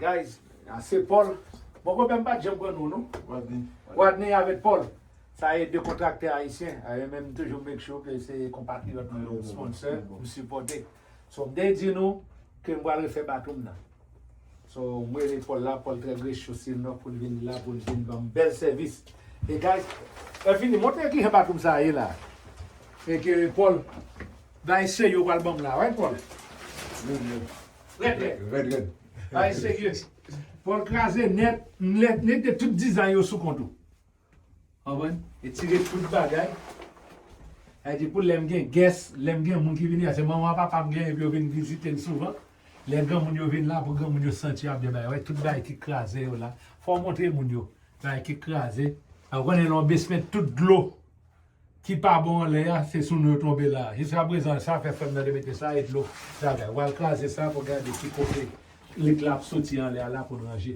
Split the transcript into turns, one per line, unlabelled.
Guys se Paul Bon konpè m pat janm pran non w non Wadney Wadney avèk Paul Sa e 2 kontraktè ayisyen E menm m toujou make sure ke se konpatriyòt mwen yo Sponsor m sipòte So m te di nou ke m pral refè bato m nan So m rele Paul la, Paul très rechose non poun vin la poun vin banm bèl sèvis e guys e fini montre kijan bathroom sa ye la e ke Paul bay serye ou pral banm la right Paul? Rèd rèd Rèd rèd Bay serye Paul kraze nèt nèt nèt tout dizay yo sou kont ou. Konprann? Etire tout bagay. Sa vle di pou lè m gen gès, lè m gen moun ki vini la, se manman papa m genyen pou yo vin vizite n souvan. Lè granmoun yo vin la, pou granmoun yo santi yo ap gen bagay. Wè tout bagay ki kraze yo la. Fò w montre moun yo bagay ki kraze. A ou konnen lè yon besment tout dlo ki pa bon anlè a, se sou nou yo tonbe la. Jiska prezan sa fè frè m nan te mete sa e dlo travay. W al kraze sa pou w gade ki kote lit la ap soti anlè a la pou n ranje.